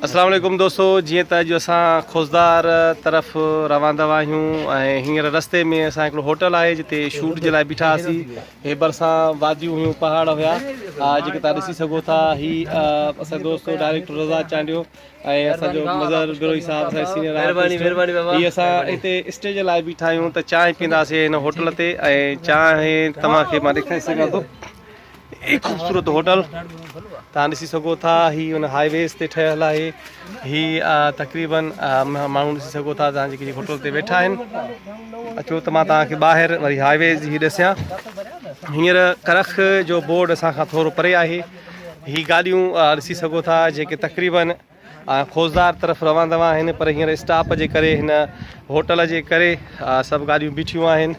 السلام عليڪم دوستو جيئن ته اڄ اسان خوزدار طرف روان دوا آهيون ۽ هينئر رستي ۾ اسان هڪڙو هوٽل آهي جتي شوٽ جي لاء بيٺا هئاسي هي ڀرسان واديون هيون پهاڙ هيا جيڪي تان ڏسي سگهو ٿا هي اسان دوست ڊائريڪٽر رضا چانڊيو ۽ اسان جو مظهر بروهي صاحب اسان سينيئر مهرباني مهرباني بابا هي اسان هتي اسٽي جي لاء بيٺا آهيون ته چانهه پينداسي هن هوٽل تي ۽ چانهه توهان کي مان ڏيکاري سگهان ٿو هي خوبصورت هوٽل تان ڏسي سگهو ٿا هي ان هاء ويز تي ٺهيل آهي هي تقريبن ماڻهو ڏسي سگهو ٿا تان جيڪي هوٽل تي ويٺا آهن اچو ته مان تان کي ٻاهر وري هاء ويز هي ڏسيا هينئر ڪرخ جو بورڊ اسان کان ٿورو پري آهي هي گاڏيون ڏسي سگهو ٿا جيڪي تقريبن خوزدار طرف روان دوان آهن پر هينئر اسٽاپ جي ڪري هن هوٽل جي ڪري سڀ گاڏيون بيٺيون آهن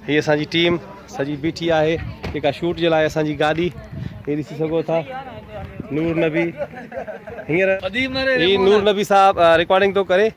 هي اسان جي ٽيم سڄي بيٺي آهي جيڪا شوٽ جي لاء اسان جي گاڏي هي ڏسي سگهو ٿا نور نبي هينئر هي نور نبي صاحب رڪارڊنگ ٿو ڪري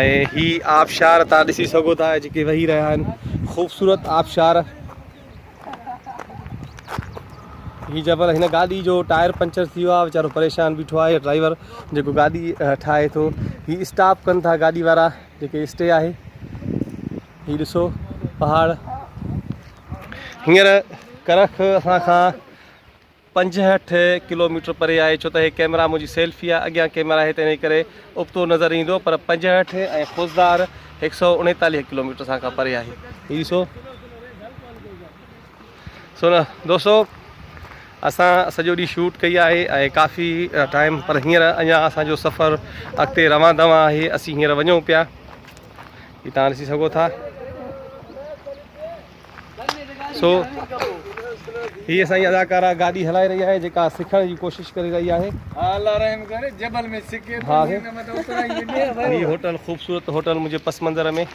۽ هي آبشار تان ڏسي سگهو ٿا جيڪي وهي رهيا آهن خوبصورت آبشار هي جبل هن گاڏي جو ٽائر پنچر ٿي ويو آهي ويچارو پريشان بيٺو آهي ڊرائيور جيڪو گاڏي ٺاهي ٿو هي اسٽاپ ڪن ٿا گاڏي وارا جيڪي اسٽي آهي هي ڏسو پهاڙ هينئر ڪرخ اسان کان پنجهٺ ڪلوميٽر پري آهي ڇو ته هي ڪئميرا منهنجي سيلفي آهي اڳيان ڪئميرا آهي ته انهي ڪري ابتو نظر ايندو پر پنجهٺ ۽ خضدار هڪ سئو اڻيتاليهه ڪلوميٽر سان کان پري آهي هي ڏسو سو نه دوستو اسان سڄو ڏينهن شوٽ ڪئي آهي ۽ ڪافي ٽائم پر هينئر اڃا اسان جو سفر اڳتي روان دوان آهي اسين هينئر وڃون پيا هي تان ڏسي سگهو ٿا سو هي اسان جي اداڪارا گاڏي هلائي رهي آهي جيڪا سکڻ جي ڪوشش ڪري رهي آهي الله رحم ڪري جبل ۾ سکي ٿو هي هوٽل خوبصورت هوٽل منهنجي پس منظر ۾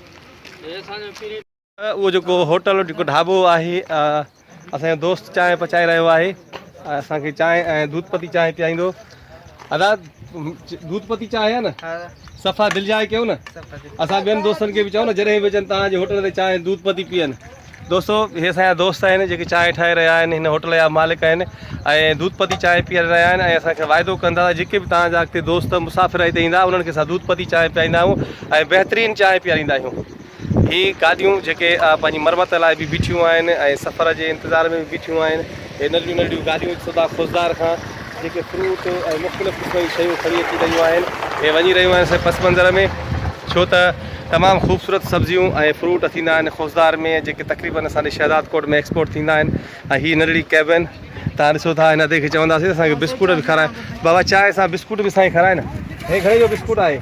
اهو جيڪو هوٽل جيڪو ڍابو آهي اسان جو دوست چانهه پچائي رهيو آهي اسان کي چانهه ۽ دودھ پتي چانهه پيائيندو ادا دودھ پتي چانهه آ نه صفا دل جاء ڪيو نه اسان ٻين دوستن کي به چئو نه جڏهن به اچن تان جي هوٽل تي چانهه دودھ پتي پيئن دوستو هي اسان دوست آهن جيڪي چانهه ٺاهي رهيا آهن هن هوٽل جا مالڪ آهن ۽ دودھ پتي چانهه پيئي رهيا آهن ۽ اسان کي وعدو ڪن ٿا جيڪي به تان جا اڳتي دوست مسافر هتي ايندا انهن کي اسان دودھ پتي چانهه پيائيندا آهيون ۽ بهترين چانهه پياريندا آهيون هي گاڏيون جيڪي پنهنجي مرمت لاء به بيٺيون آهن ۽ سفر جي انتظار ۾ به بيٺيون آهن. هي ننڍڙيون ننڍڙيون گاڏيون سوڌا خوزدار کان جيڪي فروٽ ۽ مختلف قسم جون شيون کڻي اچي رهيون آهن. هي وڃي رهيون آهن سائين پس منظر ۾ ڇو ته تمام خوبصورت سبزيون ۽ فروٽ ٿيندا آهن خوزدار ۾ جيڪي تقريبن اسان ڏي شهداد ڪوٽ ۾ ايڪسپورٽ ٿيندا آهن ۽ هي ننڍڙي ڪيبن تان ڏسو ٿا هن ادي کي چونداسين اسان کي بسڪوٽ به کارائي بابا چانهه سان بسڪوٽ به سائين کارائي نه هي گهڙي جو بسڪوٽ آهي.